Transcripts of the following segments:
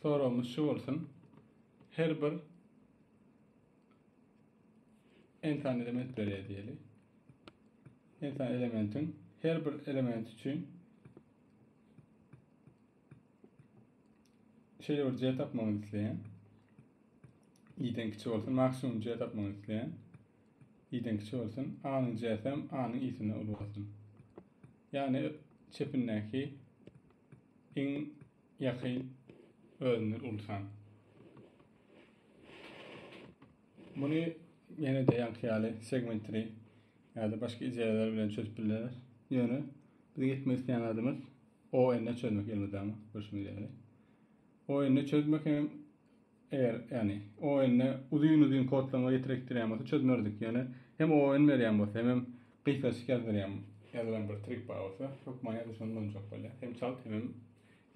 Soragymyz şu bolsun. Her bir n sany element berýär diýeli. N sany elementiň her bir element üçin şeýle bir C tapmagyny isleýän. i-den kiçi bolsun, maksimum C tapmagyny isleýän. i-den kiçi bolsun, a-nyň C-si hem a-nyň i-sinden uly bolsun. Ýagny çepindäki Iň ýakyn özünden uly san. Muny ýene-de ýaňky ýaly segment tree ýa-da başga ideýalar bilen çözüp bileris. Ýöne biziň etmek isleýän zadymyz ON-e çözmek elmydama görşüňiz ýaly. ON-e çözmek hem Eger ýani oýunda uzyn uzyn kodlaryňa ýetirekdirýän bolsa çözmerdik ýöne hem oýun berýän bolsa hemem gysgaçyk ýazdyrýan ýazylan bir trik bar bolsa hökman ýa-da şony ulanjak bolýar hem çalt hemem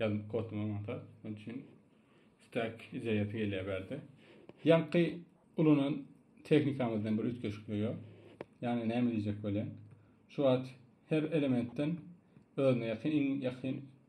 ýazyp kodlama maňta şonuň üçin stack ideýasy gelýär bärde ýaňky ulanan tehnikamyzdan bir üýtgeşiklik ýok ýani näme diýjek bolýan şu wagt her elementden özüne ýakyn iň ýakyn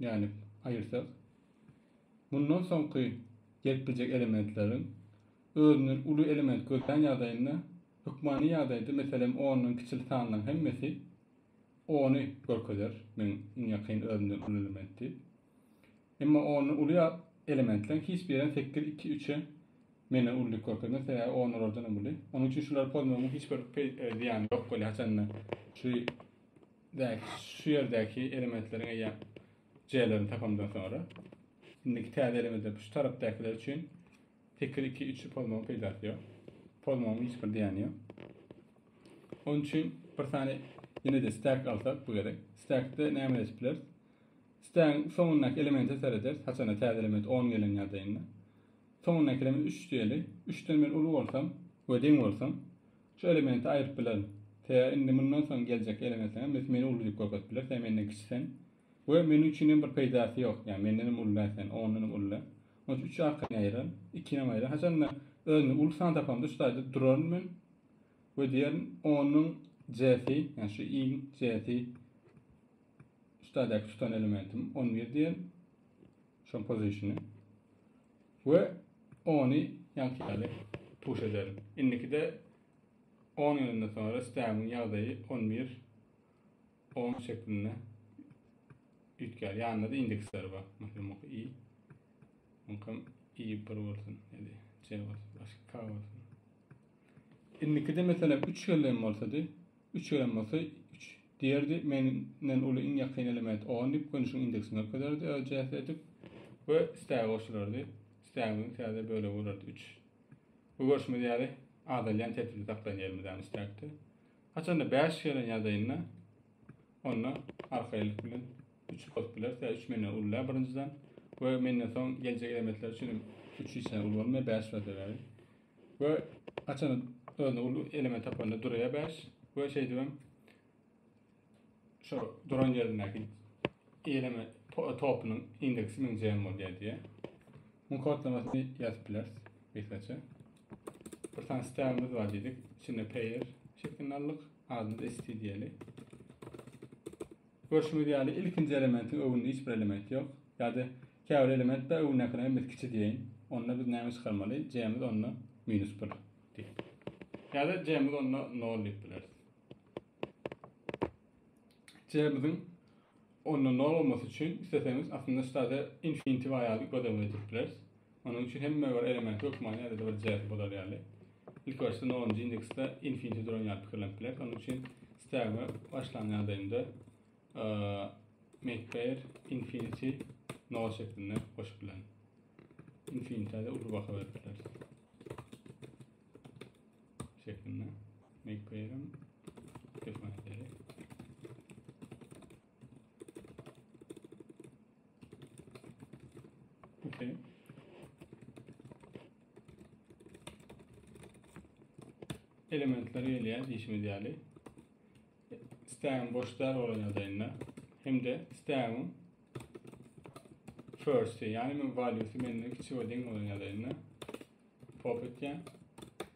Nädip aýyrsak? Mundan soňky jikme-jik elementleriň özünden uly element gözlän ýagdaýynda hökmany ýagdaýda meselem ondan kiçili sanlaryň hemmesi ony görkezer, meň iň ýakyn özümden uly element diýip. Emma ondan uly elementleriň hiç birem sekiz, iki, üçe menden ulydyk görkezmez, sebäbi on olardanam uly. Onuň üçin şulary pozmagyň hiç bir zyýany ýok bolýar haçanda şu Däki şu ýerdäki elementleriň eýýäm J-lerini tapamdan soňra indiki täze elementlerde şu tarapdakylar üçin 8 2 3 pozmagyň peýdasy ýok. Pozmagyň hiç bir diýeni ýok. Onun üçin bir sany ýene-de stack alsak bu gerek. Stackde näme edip bileris? Stack'in soňundaky elemente serederis. Haçana täze element 10 gelen ýagdaýynda. Soňundaky element 3 diýeli. 3-den men uly bolsam we deň bolsam, Şu elementi aýryp bilerin. Tä indi mundan soň geljek elementiňem öt meni uly diýip görkezip biler, tä menden kiçi sen. We men üçin hem bir peýdasy ýok. Ýagny mendenem uly-la sen, ondanam uly-la. Onuň üçin üç arkan aýyraryn, ikinem aýyraryn. Haçanda özümde uly san tapamda şu taýda duraryn men we diýerin onyň J-si, ýagny şu i-iň J-si şu taýdaky tutan elementim on bir diýerin. Şoň pozisiýony. We ony ýaňky ýaly tuş ederin. Indikide on ýylyndan soňra spermiň ýagdaýy on bir on şeklinde üýtgär. Ýanynda-da indeksleri bar. Meselem, muňky i, muňkam i bir bolsun, ýa-da j bolsun, başga k bolsun. Indikide meselem üç gelin bolsady, üç gelin bolsa üç. Diýerdi, Menden uly iň ýakyn element on diýip, gönüşiň indeksini görkezerdi öz cähdi edip we istägi goşulardy. Istägimiziň täze bölegi bolardy üç. Bu görşümiz ýaly azalýan tertipde saklaýan ýerimizäm istäkde. Haçanda bäş gelen ýagdaýynda onda arkaýynlyk bilen üç bolup biler. Sebäbi üç menden uly däl birinjiden we menden soň geljek elementler üçin hem üç hiç hili uly bolmaýar, bäş bolýar sebäbi. We haçan özüne uly element tapanda durýar 5 we şeýdibem şu duran ýerindäki eýleme topunyň indeksi 1000 jm bolýar diýär. Muň kodlamasyny ýazyp bileris gysgaça. Bir sany stegimiz bar diýdik. Içinde pair şeklini aldyk. Adyny da st diýeli. Görşüňiz ýaly, ilkinji elementiň öwünde hiç bir element ýok. Ýa-da käbir element bar, öwündäkine hem biz kiçi diýeýin. Onda biz näme çykarmaly? J-miz onda minus bir diýip. Ýa-da J-miz onda nol diýip bileris. J-miziň onda nol bolmasy üçin isleseňiz aslynda ştada infinitiw aýaly göz öňünde tutip bileris. Onuň üçin hemme bir element hökmany ýa-da bir jähti bozar ýaly. Ilki başda nolunjy indeksde infinity duran ýaly pikirlenip bileris. Onuň üçin stegme başlan ýagdaýynda make pair infinity nol şeklinde goşup bilen. Infinity de uly baha berip bileris. Şeklinde make pair define edelim. Okay. Elementler gelýär diýişimiz ýaly. Istägiň boş däl bolan ýagdaýynda hem-de istägiň first, ýagny men value-sy menden kiçi we deň bolan ýagdaýynda pop etýän.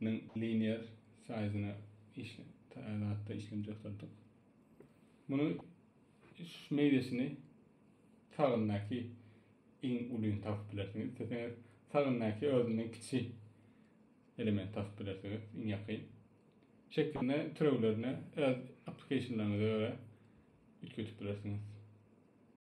Munuň linear size-na işle taýýarlapda işlemji ýasaddyk. Muny şu meýdesini sagyndaky iň ulyny tapyp bilersiňiz. Isleseňiz sagyndaky özünden kiçi element tapyp bilersiňiz, iň ýakyn. Şekilini türewlerine öz applikationlaryňyza görä üýtgetip bilersiňiz.